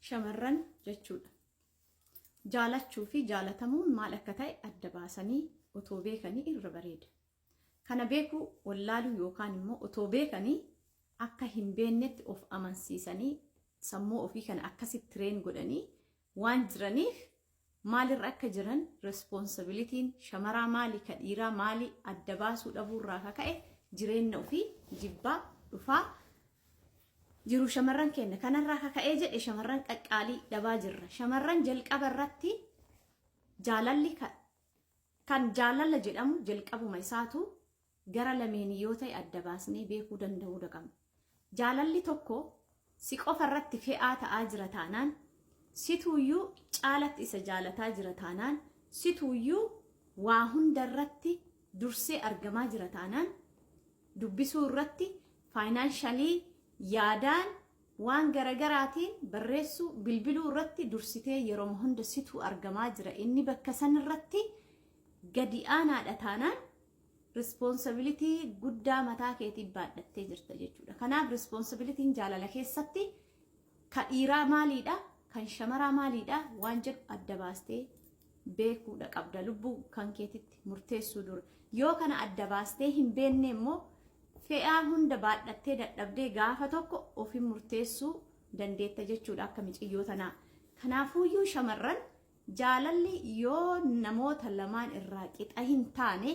shamarran jechuudha. Jaalachuu fi jaalatamuun maal akka ta'e adda baasanii otoo beekanii irra bareeda. Kana beekuu wallaaluu yookaan immoo otoo beekanii akka hin beeknetti of amansiisanii sammuu ofii kana akkasitti tireen godhanii waan jiraniif maalirra akka jiran responsibilitiin shamaraa maali ka dhiiraa maali adda baasuu dhabuurraa ka ka'e jireenna ofii jibbaa dhufaa jiru shamarran kenna kanarraa ka ka'ee jedhe shamarran qaqqaalii dhabaa jirra shamarran jalqaba irratti jaalalli ka- kan jaalala jedhamu jalqabuma isaatu gara lameenii yoo ta'e adda baasnee beekuu danda'uu daqabna. Jaalalli tokko si qofa irratti fe'aa ta'aa jira taanaan, situuyyuu caalatti isa jaalataa jira taanaan, situuyyuu waa hunda irratti dursee argamaa jira taanaan, dubbisuu irratti faayinaanshalii yaadaan waan garagaraatiin barreessuu bilbiluu irratti dursitee yeroma hunda situu argamaa jira inni bakka san irratti gadi aanaadha taanaan Responsibility guddaa mataa keetii baadhattee jirta jechuudha. Kanaaf responsibilitiin jaalala keessatti ka dhiiraa maaliidha? Kan shamaraa maaliidha? Waan jedhu adda baastee beekuudha qabda lubbuu kan keetitti murteessuu dura. Yoo kana adda baastee hin beenne immoo fe'aa hunda baadhattee dadhabdee gaafa tokko ofiin murteessuu dandeetta jechuudha akka miciyyoo tanaa. Kanaafuuyyuu shamarran Jaalalli yoo namoota lamaan irraa qixa hin taane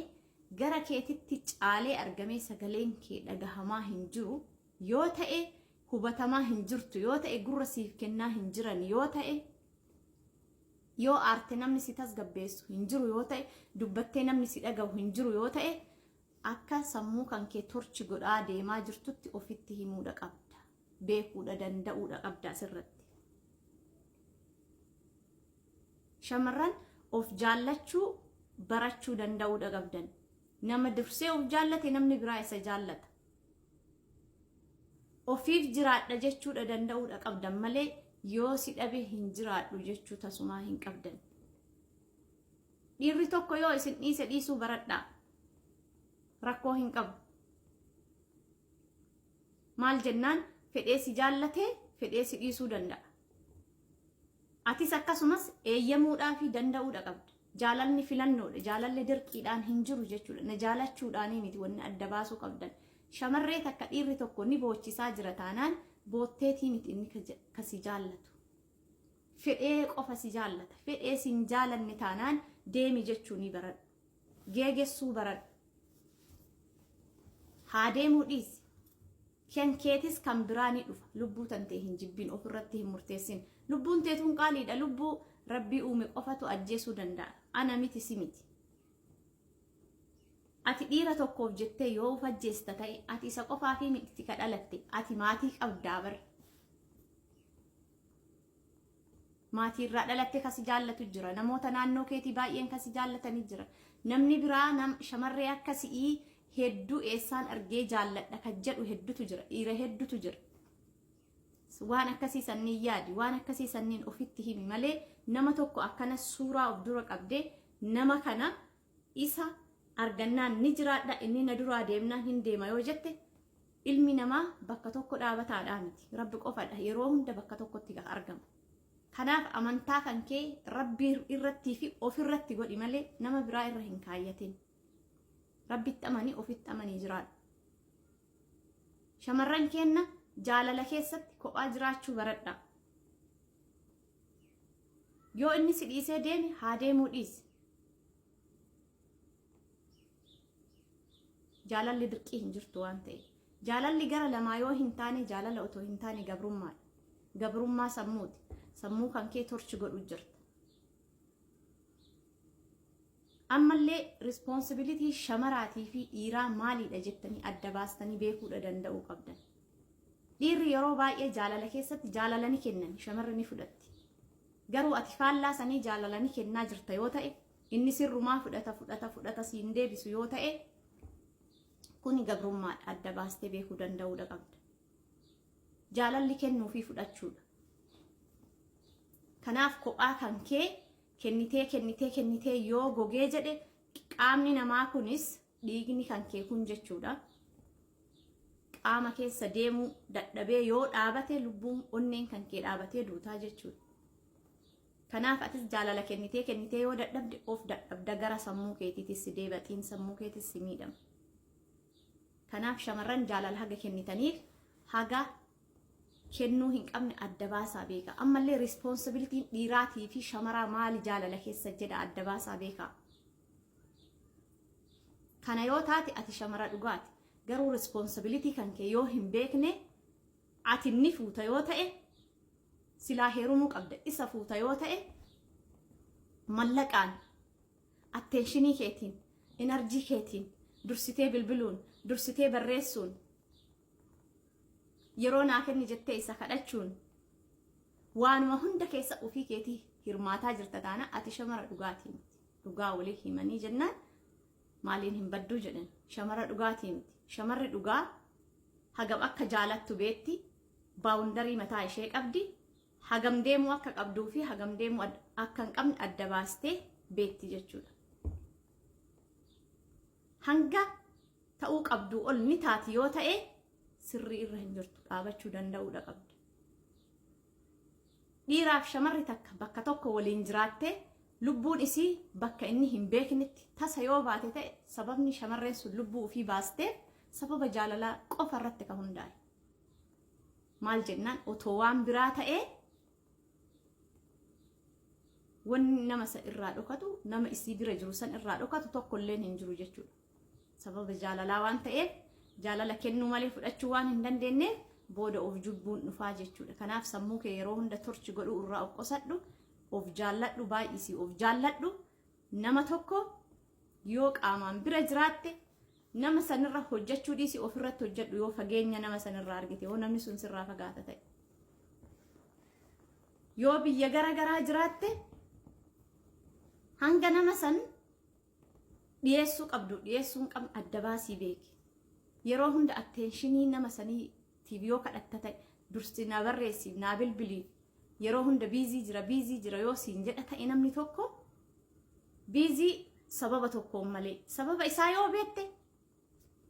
gara keetitti caalee argamee sagaleen kee dhagahamaa hin jiru yoo ta'e hubatamaa hin jirtu yoo ta'e gurra siif kennaa hin jiran yoo ta'e yoo aarte namni si tasgabbeessu hin jiru yoo ta'e dubbattee namni si dhagahu hin jiru yoo ta'e akka sammuu kan kee torchi godhaa deemaa jirtutti ofitti himuudha qabda. beekuudha danda'uudha qabda asirratti. Shamarran of jaallachuu barachuu danda'uudha qabdan. Nama dursee of jaallate namni biraa isa jaallata. Ofiif jiraadha jechuudha danda'uudha qabdan malee yoo si dhabe hin jiraadhu jechuu tasumaa hin qabdan. Dhiirri tokko yoo isin dhiise dhiisuu baradhaa. Rakkoo hin qabu. Maal jennaan fedhee si jaallatee fedhee si dhiisuu danda'a. Atis akkasumas eeyyamuudhaa fi danda'uudha qabda. Jaalalli filannoodha. Jaalalli dirqiidhaan hin jiru jechuudha. Na jaalachuudhaanii miti wanni adda baasuu qabdan. Shamarree takka dhiirri tokko ni boochisaa jira taanaan bootteetii miti inni ka si jaallatu. Fedhee qofa si jaallata. Fedhee si hin jaalanne taanaan deemi jechuu ni baradhu. geegessuu baradhu. Haa deemuu dhiisi. Kan keetis kan biraa ni dhufa. Lubbuu tantee hin jibbin ofirratti hin murteessin. Lubbuun teetuun qaaliidha. Lubbuu rabbii uume qofatu ajjeesuu danda'a. Ana miti si miti. Ati dhiira tokkoof jettee yoo of ajjeesta ta'e ati isa qofaafii miti ka dhalatte ati maatii qabdaa bar. Maatii irraa dhalatte kan si jaallatu jira. Namoota naannoo keetii baay'een kan si jaallatanii jira. Namni biraa nam shamarree akka si'ii hedduu eessaan argee jaalladha kan jedhu heddutu jira. Dhiira heddutu jira. Waan akkasii sanniin yaadi. Waan akkasii sanniin ofitti himi malee nama tokko akkana suuraa of dura qabdee nama kana isa argannaan ni jiraadha, inni na duraa deemnaan hin deema yoo jette ilmi namaa bakka tokko dhaabataadhaa miti. Rabbi qofadha yeroo hunda bakka tokkotti kan argamu. Kanaaf amantaa kan kee rabbi irrattii fi ofirratti godhi malee nama biraa irra hin kaayyatin. Rabbitti amanii ofitti amanii jiraadhu. Shamarran keenna jaalala keessatti kophaa jiraachuu baradhaa. Yoo inni si dhiisee deeme haa deemuu dhiisi. Jaalalli dirqii hin jirtu waan ta'eef. Jaalalli gara lamaa yoo hin taane jaalala otoo hin taane gabrummaadha. Gabrummaa sammuuti. Sammuu kan kee torchi godhu jirta. Ammallee rispoonsibilitii shamaraatii fi dhiiraa maaliidha jettanii adda baastanii beekuudha danda'uu qabdan. Dhiirri yeroo baay'ee jaalala keessatti jaalala ni kennan, shamarri ni fudhatti. Garuu ati faallaa sanii jaalala ni kennaa jirta yoo ta'e, inni sirrumaa fudhata fudhata fudhata siin deebisu yoo ta'e, kuni gabrummaadha adda baastee beekuu danda'uudha qabda. Jaalalli kennuu fi fudhachuudha. Kanaaf kophaa kan kee kennitee kennitee kennitee yoo gogee jedhe qaamni namaa kunis dhiigni kan kee kun jechuudha qaama keessa deemuu dadhabee yoo dhaabate lubbuun onneen kan kee dhaabatee duutaa jechuudha. Kanaaf atis jaalala kennitee kennitee yoo dadhabde of dadhabda gara sammuu keetiitis deeba xiin sammuu keetis si miidhama. Kanaaf shamarran jaalala haga kennitaniif haga kennuu hin qabne adda baasaa beeka. Ammallee rispoonsibilitiin dhiiraatii fi shamaraa maali jaalala keessa jedha adda baasaa beeka. Kana yoo taate ati shamara dhugaati. Garuu responsibility kan kee yoo hin beekne ati inni fuuta yoo ta'e silaa heerumuu qabda. Isa fuuta yoo ta'e mallaqaan atteenshinii keetiin, inarjii keetiin dursitee bilbiluun, dursitee barreessuun yeroo naa kenni jettee isa kadhachuun waanuma hunda keessa ofii keetii hirmaataa jirta taana ati shamara dhugaatii miti dhugaa walii himanii jennaan maaliin hin badduu jedhan shamara dhugaatii miti shamarri dhugaa hagam akka jaalattu beetti baawundarii mataa ishee qabdi hagam deemuu akka qabduu fi hagam deemuu ad- akka hin qabne adda baastee beetti jechuudha hanga ta'uu qabduu ol ni taati yoo ta'e sirrii irra hin jirtu dhaabachuu danda'uudha qabda. Dhiiraaf shamarri takka bakka tokko waliin jiraattee lubbuun isii bakka inni hin beeknetti tasa yoo baate ta'e sababni shamarreen sun lubbuu ofii baasteef sababa jaalalaa qofa irratti kan hundaa'e. Maal jennaan otoo waan biraa ta'ee wanni nama san irraa dhokatu nama isii bira jiru san irraa dhokatu tokko illeen hin jiru jechuudha. Sababa jaalalaa waan ta'eef jaalala kennuu malee fudhachuu waan hin dandeenyeef booda of jubbuun dhufaa jechuudha. Kanaaf sammuu kee yeroo hunda torchi godhuu irraa of qusadhu, of jaalladhu baay'isii of jaalladhu. Nama tokko yoo qaamaan bira jiraatte nama sanirra hojjechuu dhiisi ofirratti hojjedhu yoo fageenya nama sanirraa argite yoo namni sun sirraa fagaata ta'e. Yoo biyya gara garaa jiraatte hanga nama san Dhiyeessuu qabdu dhiyeessuu hin qabne adda baasii beeki. Yeroo hunda attenshinii nama saniitiif yoo kadhatta ta'e dursi naa barreessiif naa bilbilii yeroo hunda biizii jira biizii jira yoo siin jedha ta'e namni tokko biizii sababa tokkoon malee sababa isaa yoo beekte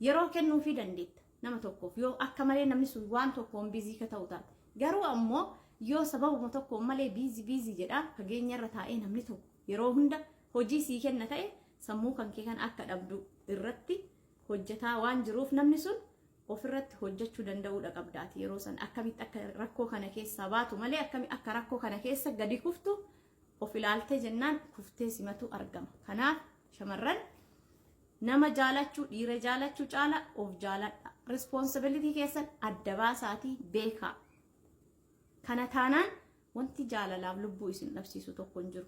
Yeroo kennuufii dandeetta nama tokkoof yoo akka malee namni sun waan tokkoon biizii ka ta'u taate. Garuu ammoo yoo sababuma tokkoon malee biizii biizii jedhaa fageenyarra taa'ee namni tokko yeroo hunda hojii sii kenna ta'e sammuu kan kee kan akka dhabdu irratti hojjetaa waan jiruuf namni sun ofirratti hojjechuu danda'uudha qabdaati yeroo san akkamitti akka rakkoo kana keessaa baatu malee akkami akka rakkoo kana keessa gadi kuftu of ilaaltee jennaan kuftee simatu argama. Kanaaf shamarran nama jaalachuu dhiira jaalachuu caala of jaaladha. Responsibility keessan adda baasaatii beekaa. Kana taanaan wanti jaalalaaf lubbuu isin dhabsiisu tokko hin jiru.